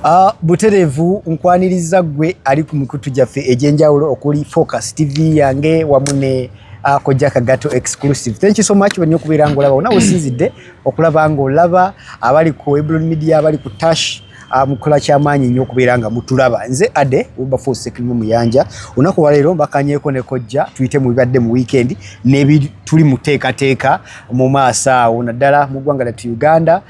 Uh, buterevu nkwaniriza gwe ali ku mikutu gyaffe egyenjawulo okuli focus tv yange wamu ne uh, kojja kagato exclusive thank you so much wenyo okubeera nga olaba wona wesinzidde okulaba nga olaba abali ku eblon media abali ku tash Ah, mukola kyamaanyi nnyo okubeera nga mutulaba nze ade ubafosekirimu muyanja olunaku waleero mbakanyeeko ne kojja tuyite mu bibadde mu wiikendi nebituli mu teekateeka mu maaso awo naddala mu ggwanga lyattu uganda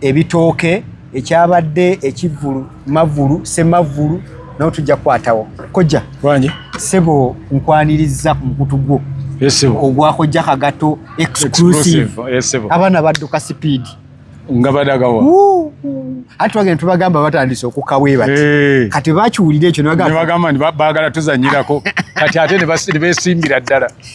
ebitooke ekyabadde ekivvulu mavvulu semavvulu nawe tujja kukwatawo kojja wangi sebo nkwanirizza ku mukutu gwo ogwakojja kagato exclusive abaana badduka sipiidi nga badagawa ati twagenda tubagamba batandise okukaweeba kati bakiwulira ekyo nebagamba nti bagala tuzanyirako kati ate nebesimbira ddala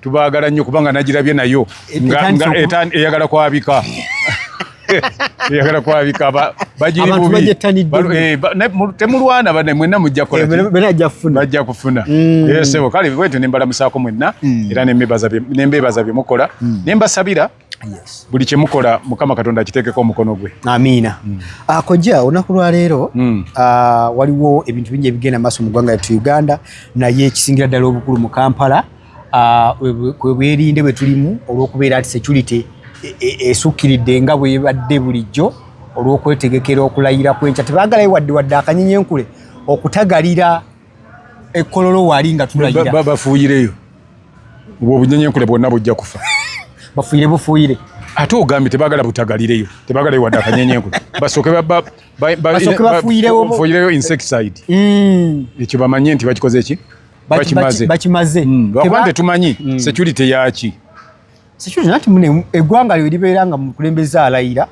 Tubaagala nnyo kubanga nagirabye nayo eyagala kwabika eyagala kwabika eh, temulwana bane mwenna mujja kolabajja eh, kufuna mm. eh, sebo kale bwetyo nembalamusaako mwenna mm. era nembeebaza byemukola mm. nembasabira yes. buli kyemukola mukama katonda akiteekeko omukono gwe amiina mm. uh, ah, kojja olunaku lwaleero mm. uh, waliwo ebintu bingi ebigenda maaso mu ggwanga lyattu uganda naye ekisingira ddala obukulu mu kampala ah, kwebwerinde uh, bwe tulimu olw'okubeera nti security e, e, esukkiridde e, e, nga bwebadde bulijjo olw'okwetegekera okulayira kwenkya tebagalayo wadde wadde akanyinyenkule okutagalira ekkololo wali nga tulayira babafuuyireyo obwo obunyenyenkule bwonna bujja kufa bafuuyire bufuuyire ate ogambye tebagala butagalireyo tebagala wadde akanyenyenkule basooke bafuuyireyo insecticide mm. ekyo bamanye nti bakikoze ki bakimaze bakimaze hmm, lwakuba ntetumanyi hmm. security yaki Situation nati mune egwanga lyo libeera nga mukulembeza alayira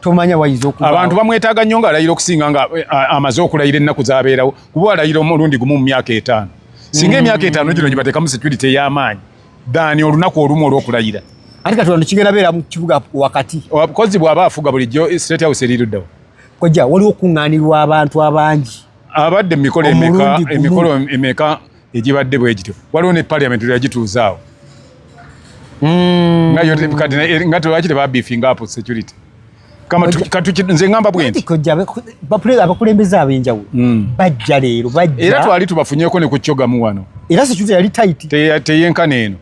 tomanya wayizo okuba abantu bamwetaga nnyo nga alayira okusinga nga eh, amaze okulayira ennaku zabeerawo kuba alayira omulundi gumu mu myaka etaano singa emyaka etaano gino gibatekamu security ey'amaanyi daani olunaku olumu olwokulayira ate kati wano kigenda beera mu kibuga wakati kozi bw'aba afuga bulijjo eh, state house eriruddawo kojja waliwo okuŋŋaanirwa abantu abangi abadde emikolo emeka emikolo emeka egibadde bwegityo waliwo ne parliament yagituuzaawo mm. eh, nga tewaki tebabifinga apo security nze ngamba bwentiabakulembeze abenjawulo mm. bajja leero era twali tubafunyeko ne ku kyogamu wano era security yali taiti teyenkana eno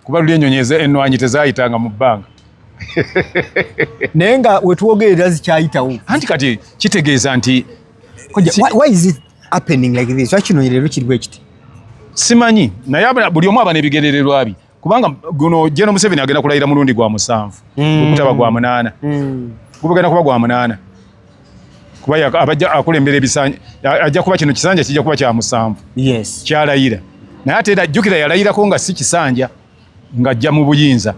kuba luli enyonyi enwanyi tezayitanga mu bbanga naye nga wetwogerera zikyayitawo anti kati kitegeeza nti kino leero kiriwo ekiti simanyi naye buli omu aba nebigerererwa bye kubanga guno jeno museveni agenda kulayira mulundi gwa musanvu hmm. okutaba gwa munaana hmm. gubagenda kuba gwa munaana kuba abajja akulembera ebisanja ajja kuba kino kisanja kijja kuba kya musanvu yes. kyalayira naye ate era jjukira yalayirako nga si kisanja ng'ajja mu buyinza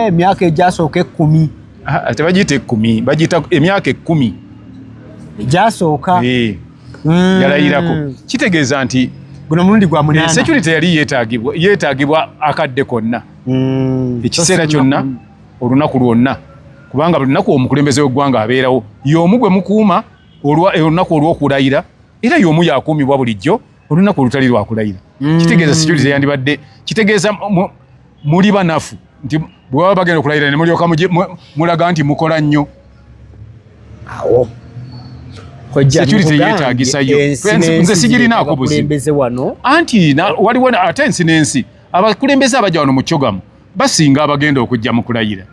emyaka eh, egyasooka ekkumi ah, tebagiyita ekkumi bagiyita emyaka ekkumi egyasooka eh, hmm. yalayirako kitegeeza nti guno mulundi gwa munana eh, security yali yeetagibwa akadde konna hmm. ekiseera kyonna olunaku lwonna kubanga buli lunaku omukulembeze w'eggwanga abeerawo y'omu gwe mukuuma eh, olunaku olw'okulayira era y'omu yakuumibwa bulijjo olunaku olutali lwakulayira mm. kitegeeza security teyandibadde kitegeeza muli banafu nti bwebaba bagenda okulayira nemulyoka mulaga nti mukola nnyo awo securityeyetagisayoze sigirinaako buzibu anti waliwo ate ensi n'ensi abakulembeze abaja wano mu kyogamu basinga abagenda okujja mu kulayira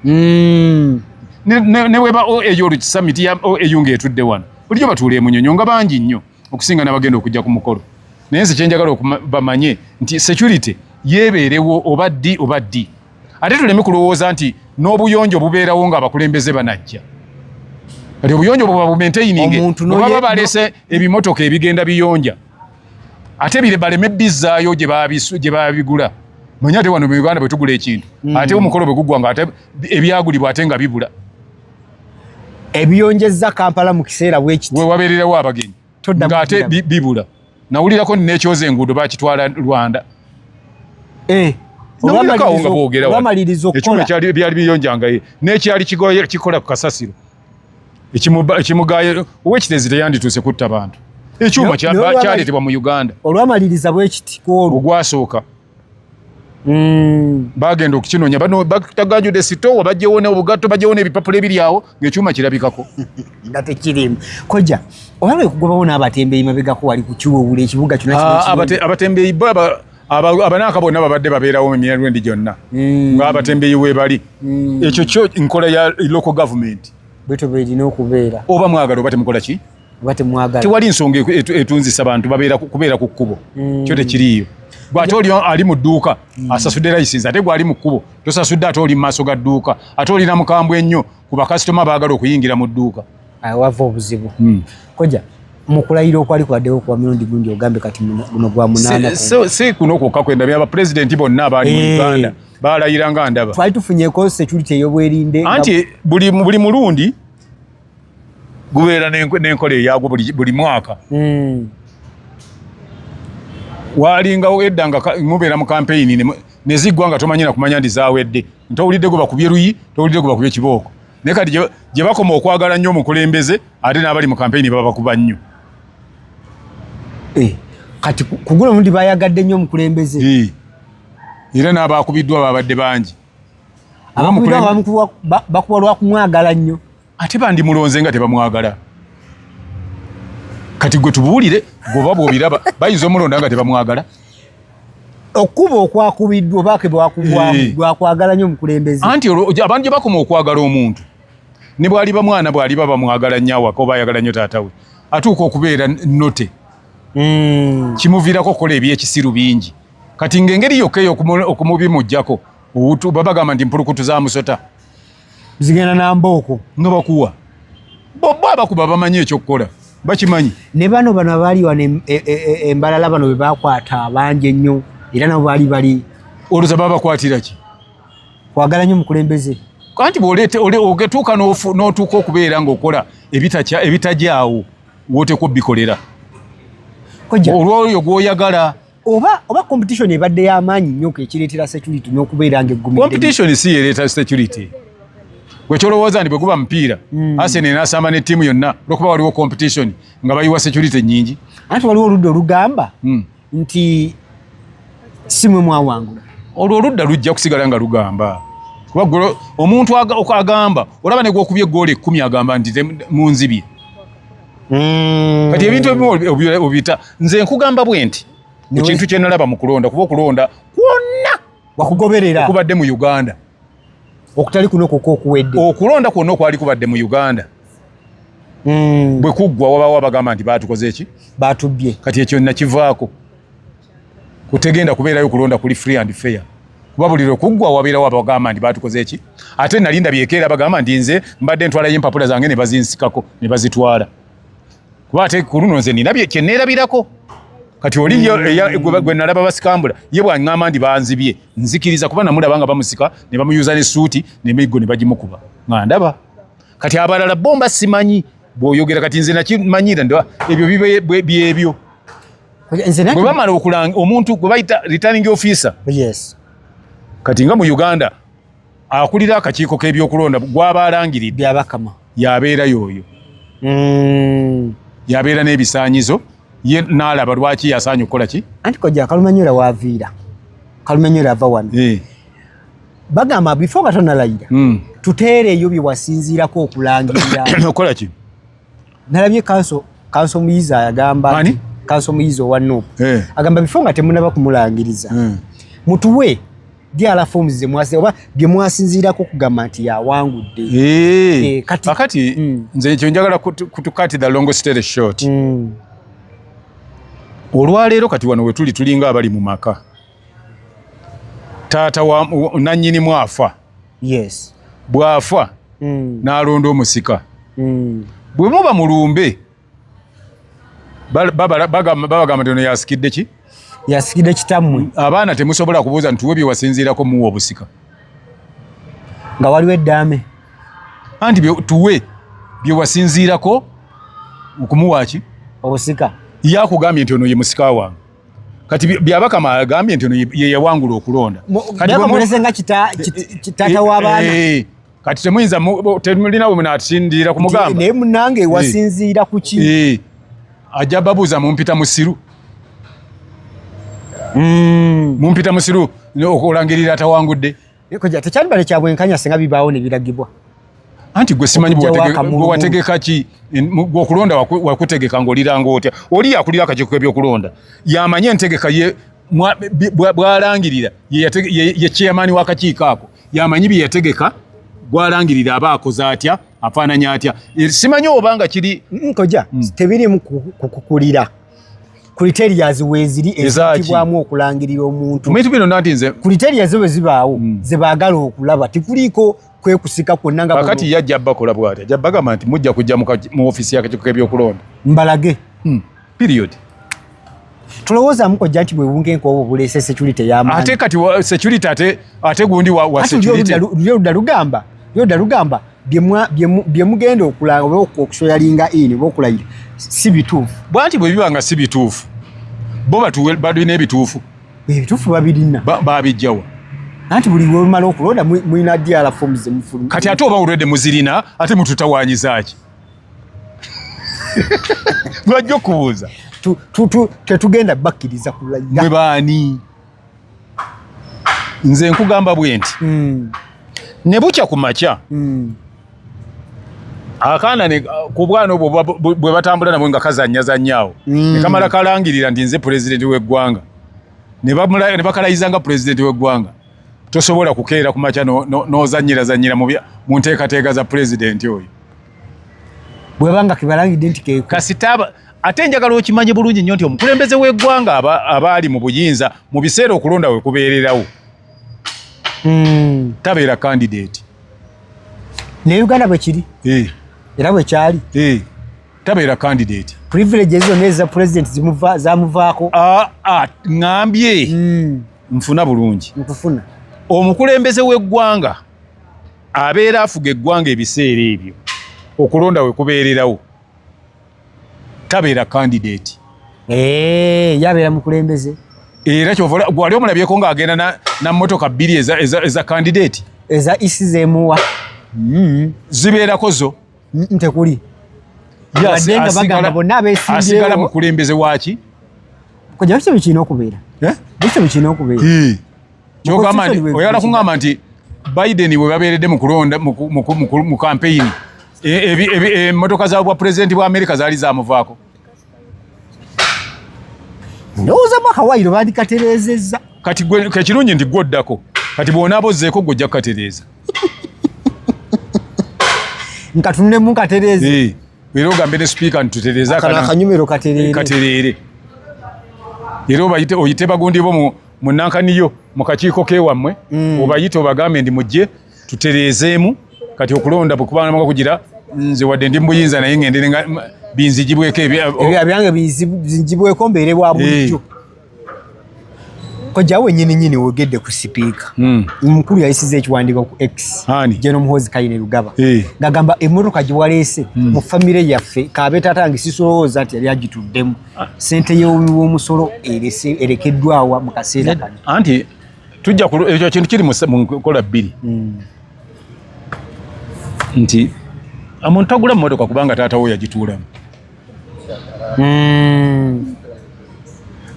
hmm. ne weba oea olukisamiti ya oea nga etudde wano bulijjo batuula emunyonyo nga bangi nnyo okusinga n'abagenda okujja ku mukolo naye nze kyenjagala okubamanye nti security yebeerewo oba ddi oba ddi ate tuleme kulowooza nti n'obuyonjo bubeerawo nga abakulembeze banajja kati obuyonjo bwebabumentayininge bwebaba balese ebimotoka ebigenda biyonja ate bire baleme bizzaayo gye babigula manya ate wano mu uganda bwe tugula ekintu mm. ate omukolo bwe gugwa nga ate ebyagulibwa ate nga bibula ebiyonjezza kampala mu kiseera bwekiti we wabeererawo abagenyi nga ate bibula nawulirako nekyoza enguudo bakitwala rwanda eh, nawulirakawo nga boogeraekyuma ekyali biyonjangaye nekyali kikola ku kasasiro ekimugaayo owekitezi teyandituuse kutta bantu ekyuma kyaletebwa mu uganda olwamaliriza bwekiti kwolwo ogwasooka hmm. bagenda okukinonya bano bataganjude sitowa bajewone obugatto bajewone ebipapula ebiri awo ngaekyuma kirabikako nga tekirimu koja oba lwekugobawo n'abatembeyi mabegako wali kukiwowula ekibuga kyona ah, abatembeyi abanaaka bonna babadde babeerawo mu mirandwendi gyonna hmm. ng'abatembeyi weebali hmm. ekyo kyo nkola ya local government bwetyo bwerina okubeera oba mwagala oba temukola ki oba temwagala tewali nsonga etunzisa bantu kubeera ku kkubo hmm. kyo tekiriiyo gwate oli ali mu dduuka asasudde layisinsi ate gwali mu kkubo tosasudde ate oli mu maaso ga dduuka ate olina mukambwe ennyo ku bakasitoma baagala okuyingira mu dduuka ah, wava obuzibu hmm. koja mukulayira okwali kwaddewo kuwa mirundi gundi ogambe kati guno gwa munaana si kuno kwokka kwendabye abapulezidenti bonna abaali mu eh. uganda balayira nga ndaba twali tufunyeko security eyobwerinde anti buli mulundi gubeera n'enkola eyagwo buli mwaka hmm. walingawo edda nga mubeera mu kampeyini neziggwa nga tomanyira kumanya ndi zawedde ntowulidde gwe bakubye luyi towulidde gwe bakubye kibooko naye kati gye bakoma okwagala nnyo omukulembeze ate n'abali mu kampeyini babakuba nnyo eh, kati kugula omundi bayagadde nnyo omukulembeze eh, era n'abaakubiddwa babadde bangi bakuba lwakumwagala nnyo ate bandimulonze nga tebamwagala kati gwe tubuulire gwoba bwobiraba bayinza omulonda nga tebamwagala okukuba okwakubiddwa obaake bwakubwamu eh. bwakwagala nyo omukulembeze anti abantu gye bakoma okwagala omuntu ne bwaliba mwana bwaliba bamwagala nnyo awaka oba ayagala nnyo taata we atuuka okubeera note hmm. kimuviirako okukola ebyekisiru bingi kati ng'engeri yokka eyo okumubimujjako baba gamba nti mpulukutu za musota zigenda na mbooko nga bakuwa bobo abakuba bamanyi ekyokukola bakimanyi ne bano bano abaali wano e, e, e, embalala bano be bakwata bangi ennyo era nabo baali bali oluza babakwatira ki kwagala nnyo mukulembeze kanti bwogetuuka n'otuuka okubeera ng'okola ebitajaawo woteekwa obikolera olwoyo gwoyagala oba oba competition ebadde y'amaanyi nnyo ekireetera security n'okubeera nga eggumidde competition si yereeta security gwe kyolowooza nti bwe guba mupiira mm. arsenal enasamba ne ttiimu yonna olwokuba waliwo competition nga bayiwa security nnyingi anti waliwo oludda olugamba mm. nti simwe mwawangula olwo oludda lujja kusigala nga lugamba kuba omuntu agamba olaba negwokubye egoolo ekkumi agamba nti munzibye mm. kati ebintu ebimu obiyita nze nkugamba bwe nti mu kintu kye nalaba mu kulonda kuba okulonda kwonna wakugoberera okubadde mu uganda okutali kuno kuko okuwedde okulonda kwonna okwali kubadde mu uganda mm. bwe kuggwa wabawo abagamba nti baatukoze eki baatubbye kati ekyo nakivaako kutegenda kubeerayo kulonda kuli free and fair kuba buli lwekuggwa wabeerawo abagamba nti batukoze ki ate nali ndabyekeera bagamba nti nze mbadde ntwalayo empapula zange ne bazinsikako ne bazitwala kuba ate ku luno nze nina kyeneerabirako kati oli mm. gwe nalaba basikambula ye bwaŋŋamba nti banzibye nzikiriza kuba namulaba nga bamusika ne bamuyuza n'essuuti nemiggo ne bagimukuba nga ndaba kati abalala bomba simanyi bwoyogera kati nze nakimanyira nd ebyo bibe byebyo bwe bamala okulanga omuntu gwe bayita returning officer yes. kati nga mu uganda akulira akakiiko k'ebyokulonda gwaba alangiridde abakama yabeera yoyo mm. yabeera n'ebisanyizo ye naalaba lwaki yasaanye okukola ki anti kojja kalumanyola waaviira kalumanyola ava wano eh. bagamba before nga tonalayira hmm. tuteereeyo bye wasinziirako okulangirira okola ki nalabye kanso kanso muyizi ayagamba kanso muyizi owa nup eh. agamba before nga temunaba kumulangiriza hmm. mutuwe diala forms ze mwasi oba bye mwasinziirako okugamba nti yawangudde eh. Eh, kakati hmm. nze ekyo njagala kutukati the long story short olwaleero kati wano wetuli tulinga abali mu maka taata wa nanyini mwafa yes bwafa mm. nalonda omusika mm. bwe muba mulumbe babagamba nti ono yasikidde ki yasikidde kitammwe abaana temusobola kubuuza nti tuwe byewasinziirako muwa obusika nga waliwo eddaame anti tuwe byewasinziirako okumuwaaki obusika yakugambye nti ono ye musika wange kati byabakama agambye nti ono yeyawangula okulonda kitata wabaana eh, eh, kati temuyinza temulinawe munatindiira ku mugamba naye munange eh. wasinziira kuki ajja babuuza mumpita musiru hmm. mumpita musiru okulangirira atawangudde Ekoja tekyali bale kya bwenkanya singa bibaawo ne biragibwa. Anti gwe simanyi bwe wategeka ki gwe okulonda wakutegeka ng'oliranga otya. Oli yakulira akakiiko k'ebyokulonda yamanye entegeka ye bwalangirira ye chairman w'akakiiko ako yamanyi bye yategeka gwalangirira aba akoze atya afaananya atya eh, simanyi oba nga kiri nkoja mm, mm. tebirimu kukukulira criterias weziri ezitibwamu okulangirira omuntu bintu bino nati nze criterias bwe zibaawo mm. ze baagala okulaba tikuliiko kwekusika kwonna nga kakati yajja abbakola bwati ajja bagamba nti mujja kujja mu ofisi yakakiiko k'ebyokulonda mbalage mm. period tulowooza muko janti bwe bunge nkobo bulese security ya mani ate kati security ate ate gundi wa, wa security lyo dalugamba lyo dalugamba bye mugenda okulanga oba okusoyalinga in oba okulayira si bituufu bwanti bwe biba nga si bituufu bo balina ebituufu ebituufu babirina babijjawa anti buli wemala okulonda mulina diala fomu zemufuluma kati ate oba olwedde muzirina ate mututawanyizaaki lwajja okubuuza tetugenda bakkiriza kulayira mwe baani nze nkugamba bwe nti mm. ne bukya ku makya mm. akaana ku bwana obwo bwe batambula nabwe nga kazanyazanyaawo mm. ne kamala kalangirira nti nze pulezidenti w'eggwanga ne bakalayizanga pulezidenti w'eggwanga tosobola kukeera ku makya n'ozanyirazanyira no, no mu nteekateeka za pulezidenti oyo bwebanga kibalangidde nti kasita Ate njagala okimanye bulungi nnyo nti omukulembeze w'eggwanga abaali mu buyinza mu biseera okulonda we kubeererawo hmm. tabeera kandidate ne uganda bwe kiri eh. era bwe kyali eh. tabeera kandidate privilege zonna eza president zamuvaako ah, ah, ŋambye hmm. nfuna bulungi nkufuna omukulembeze w'eggwanga abeera afuga eggwanga ebiseera ebyo okulonda we kubeererawo tabeera candidate eh yabeera mukulembeze era kyovola gwali omulabyeko ng'agenda na, na motoka bbiri eza, eza, eza candidate eza isi zemuwa mm. zibeerako zo ntekuli yes, asigala mukulembeze waki kujja bikimu kirina okubeera eh? bikimu kirina okubeera kyogamba nti oyagala kungamba nti biden webabeeredde mu kampeyini emotoka e, e, za bwa pulezidenti bwa amerika zaali zamuvaako ndowooza mwaka wairo bandikatereezezza kati kekirungi nti gwe oddako kati bwonaaba ozzeeko gwe ojja kukatereeza nkatunulemu nkatereeze era ogambe ne sipiika nti tutereeze akanyumiro katereere era oyite bagundi bo munankaniyo mu kakiiko kewammwe mm. obayite obagambe ndi mujje tutereezeemu kati okulonda bwekubanamaka kugira nze wadde ndi mubuyinza naye ngendere nga binzijibweko ebyange binzijibweko mbeere bwa bulijjo eh. kojawe nyini nyini wogedde ku sipiika hmm. omukulu yayisiza ekiwandiiko ku x jeno muhozi kayine lugaba eh. ngagamba emmotoka gye waleese hmm. mu famire yaffe kaabetatange sisolowooza nti yali agituddemu sente y'omusolo erekeddwawa mu kaseera kano anti tujja ekyo kintu kiri mu nkola bbiri hmm. nti omuntu tagula mmotoka kubanga taata wo yagituulamu hmm.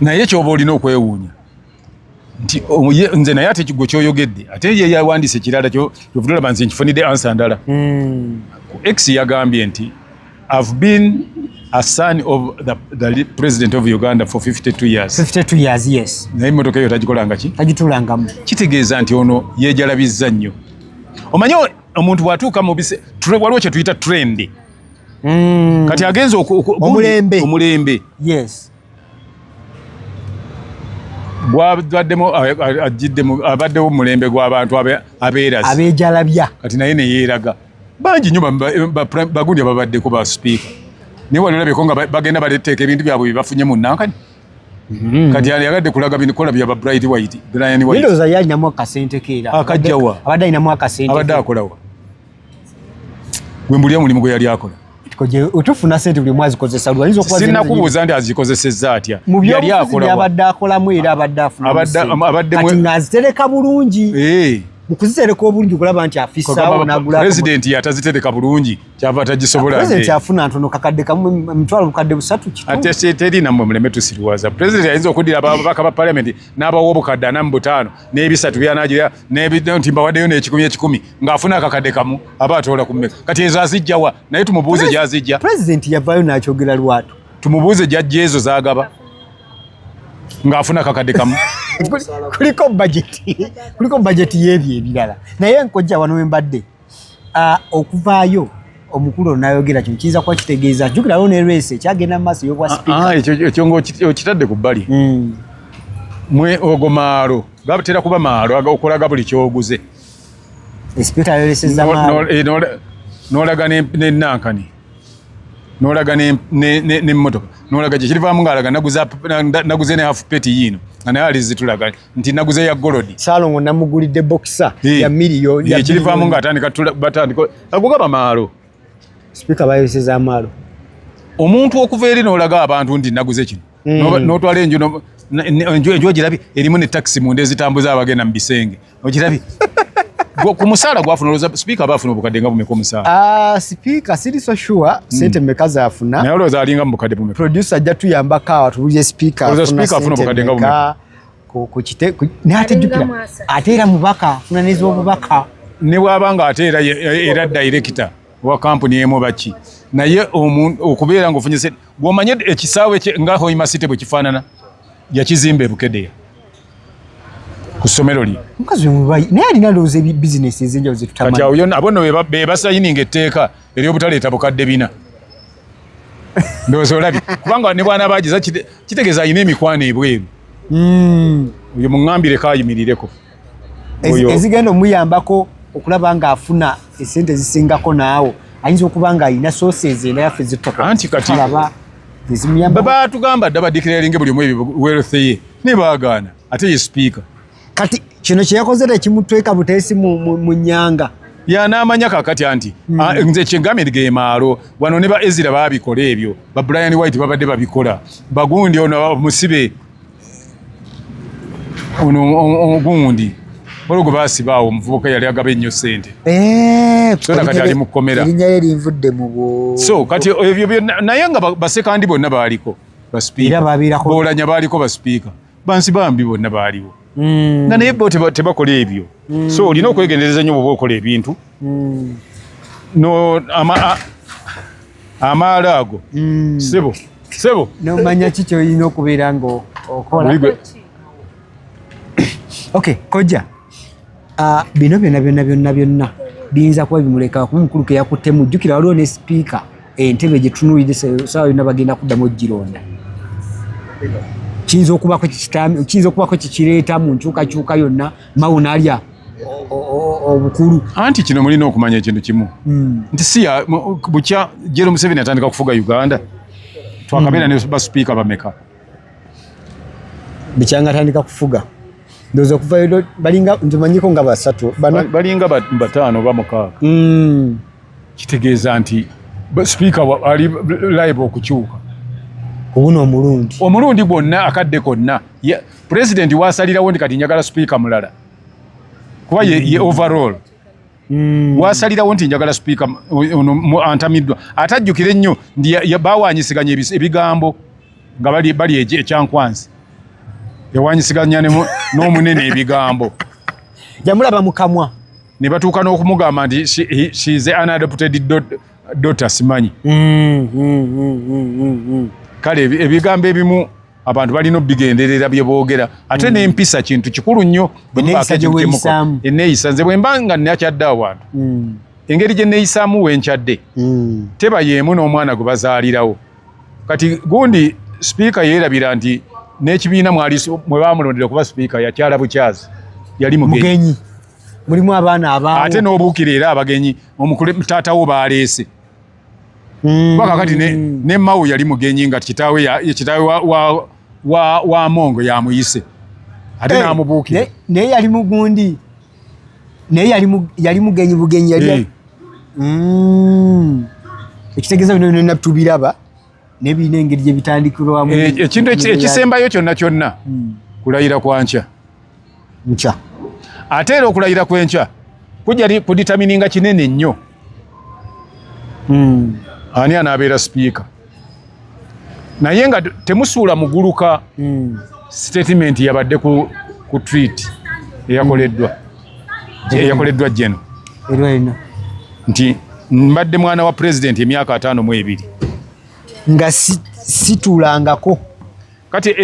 naye kyoba olina okwewuunya nti nze naye ate kigwe kyoyogedde ate ye yawandiisa ekirala kyovudolaba nze nkifunidde ansa ndala hmm. x yagambye nti have been a son of the, the president of uganda for 52 years 52 years yes naye motoka eyo tagikolanga ki tagitulangamu kitegeeza nti ono yejalabizza nnyo omanyi omuntu bwatuuka mubise waliwo kyetuyita trend mm. kati agenza omulembe yes gwabademu ajiddemu abaddewo mulembe gw'abantu abeerazi abejalabya kati naye neyeeraga bangi nyo bagundi ababaddeko ba sipiika naye wali olabeko nga bagenda baleteeka ebintu byabwe byebafunye mu nankani hmm. kati yagadde kulaga bikola bya ba bright white brian white ndowooza yalinamu akasente keera ah, akajjawa abadde alinamu akasente abadde akolawa gwe mbulira omulimu gwe yali akola otufuna sente buli mwezi kozesa lwayinza okuba sinna kubuuza nti azikozesezza atya mu byobufuzi byabadde akolamu era abadde afuna kati ng'azitereka bulungi eh. mu kuzitereka obulungi okulaba nti afisaawo nagulapulezidenti yatazitereka bulungi kyava tagisobola pulezidenti afuna ntono kakadde kamu emitwalo bukadde busatu kiteri namwe muleme tusiriwaza pulezidenti ayinza okuddira ababaka ba palamenti n'abawa obukadde ana mu butaano n'ebisatu byanagira nti mbawaddeyo n'ekikumi ekikumi ng'afuna akakadde kamu aba atoola ku mmeka kati ezo azijjawa naye tumubuuze gyazijja pulezidenti yavaayo n'akyogera lwatu tumubuuze gyajja ezo zagaba ng'afuna akakadde kamu kuliko bajeti kuliko bajeti y'ebyo ebirala naye nkojja wano we mbadde Ah, okuvaayo omukulu ono nayogera kino kiyinza kuba kitegeeza jukirawo ne resi ekyagenda mu maaso eyobwa ah, sipiika ah, ekyo nga okitadde ku bbali hmm. mwe ogo maalo gatera kuba maalo okulaga buli kyoguze esipiika yoleseza maalo eh, nolaga nenankani nolaga nemotoka nolaga kyekirivaamu ngaalaga naguze ne hafu peti yiino nga naye alizitulaga nti naguze ya golodi salongo namugulidde boxer hey. ya miliyo ya kilivamu nga atandika batandika agugaba maalo spika bayoseza amaalo omuntu okuva eri nolaga abantu nti naguze kino mm. notwala enju enju enju ogirabye erimu ne taxi munda ezitambuza abagenda mu bisenge ogirabye ku musaala gwafuna olowooza sipiika aba afuna obukadde nga bumeka omusaala ah, sipiika siri so sure hmm. sente meka zaafuna naye olowooza alinga mu bukadde bumeka producer ajja tuyambako awo tubulire sipiika afuna sente meka ate era mubaka funa nezobubaka ne bwaba nga ate era era director wa kampuni emu baki naye okubeera nga ofunye gwomanye ekisaawe nga hoima city bwe kifaanana yakizimba ebukedeya ku ssomero lye naye alina looza ebibizinesi ezenjawulo zetutamanyi kati awo yona abono bebasayininga etteeka eri obutaleeta bukadde bina ndowooza olabye kubanga ne bwana bagiza kitegeeza alina emikwano ebweru hmm. oyo muŋambire kayimirireko ezigenda omuyambako okulaba nga afuna esente ezisingako naawo ayinza okuba nga alina sources enayaffe zittokaanti kati batugamba dda badikiralinge buli omu ebyo wealth ye naye baagaana ate ye sipiika kati kino kyeyakoze tekimutweka buteesi mu nyanga yanamanya kakati anti mm. ah, nze kyengambye nti gemaalo wano ne ba ezira babikola ebyo ba brian white babadde babikola bagundi ono musibe ono ogundi olwo gwe basibaawo omuvubuka yali agaba ennyo sente eh, so kati ali mu kkomera so kati ebyo naye nga basekandi bonna baaliko basipiika boolanya baaliko basipiika bansi bambi bonna baaliwo mm. nga naye bo tebakola ebyo mm. so olina okwegendereza nyo bwoba okola ebintu mm. no ama amaala ago mm. sebo sebo nomanya ki kyoyina okubeera nga okola okay koja Ah, bino byonna byonna byonna byonna biyinza kuba bimuleka kuba omukulu keyakuttemu jjukira waliwo ne sipiika entebe gyetunulidde sawa yonna bagenda kuddamu ogironda kiyinza okubako kikireeta mu nkyukakyuka yonna mawu nalya obukulu anti kino mulina okumanya ekintu kimu hmm. nti siya bukya jero museveni atandika okufuga uganda twakabeera hmm. ne basipiika bameka bikyanga tandika kufuga ndoza kuva yodo balinga ndimanyiko nga basatu bana balinga batano ba mukaaga mm kitegeeza nti speaker ali live okukyuka kubuno omulundi omulundi gwonna akadde konna yeah. president wasalirawo ndi kati njagala speaker mulala kuba ye, ye mm. overall Mm. wasalirawo nti njagala sipiika ono antamiddwa ate ajjukire nnyo nti bawanyisiganya ebigambo nga bali ekyankwanzi yawanyisiganya n'omunene ebigambo yamulaba mukamwa ne batuuka n'okumugamba nti shize an adopted dota simanyi mm, mm, kale ebigambo ebimu abantu balina obigenderera bye boogera ate mm. n'empisa kintu kikulu nnyo eneeyisa nze bwe mba nga nakyadde awantu mm. engeri gye neeyisaamu wenkyadde mm. teba yeemu n'omwana gwe bazaalirawo kati gundi sipiika yeerabira nti n'ekibiina mwali mwe baamulondera okuba sipiika yakyala bukyazi yali mugenyi mulimu abaana abaa ate n'obuukira era abagenyi omukule taata wo baaleese mm. kati ne, ne mawu yali mugenyi nga kitaawe ya, kitaawe wa, wa, wa, wa mongo yamuyise ate hey, eh, namubuukira naye yali mugundi naye yali mugenyi bugenyi yali hey. Eh. mm. ekitegeeza bino byonna tubiraba nebirina engeri gye bitandikirwamu. Eh, ekintu ekisembayo kyonna kyonna hmm. kulayira kwa nkya nkya, ate era okulayira kw'enkya kujja kuditamininga kinene nnyo hmm. ani anaabeera sipiika naye nga temusuula muguluka hmm. sitatimenti yabadde ku, ku tweet eyakoleddwa. eyakoleddwa jeno nti mbadde mwana wa pulezidenti emyaka ataano mu ebiri nga situlangako kati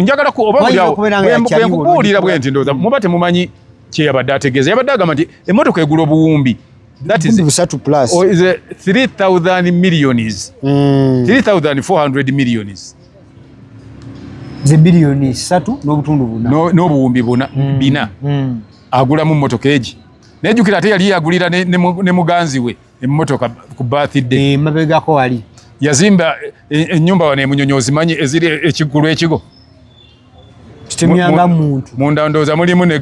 njagala kubaobakubuulira bwe nti ndoza muba temumanyi kyeyabadde ategeeza yabadde agamba nti emotoka egula obuwumbi busatu plus 3000 millions 3400 mm. millions ze biliyoni satu n'obutundu buna n'obuwumbi buna mm. bina mm. agulamu mmotoka egi naye jukira ate yali yagulira ne muganzi we emmotoka ku birthday eh, mabegako wali yazimba enyumba eh, eh, wano emunyonyi ozimanyi eziri ekiggulu ekigo kitemyanga muntu munda ndoza mulimu ne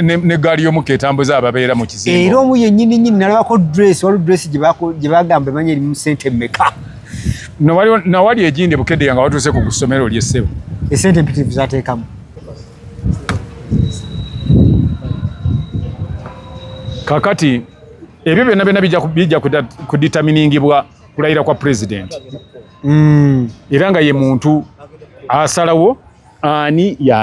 ne gali yo muketambuza ababera mu kizimbo era omu yenyini nyini nalaba ko dress walu dress gibako gibagamba manye mu sente meka no wali na wali ejinde bukede yanga watu se kugusomero lye sebo e sente mpitivu zatekamu kakati ebyo byonna byonna bijja kudeterminingibwa kulayira kwa president mm. era nga ye muntu asalawo ani ya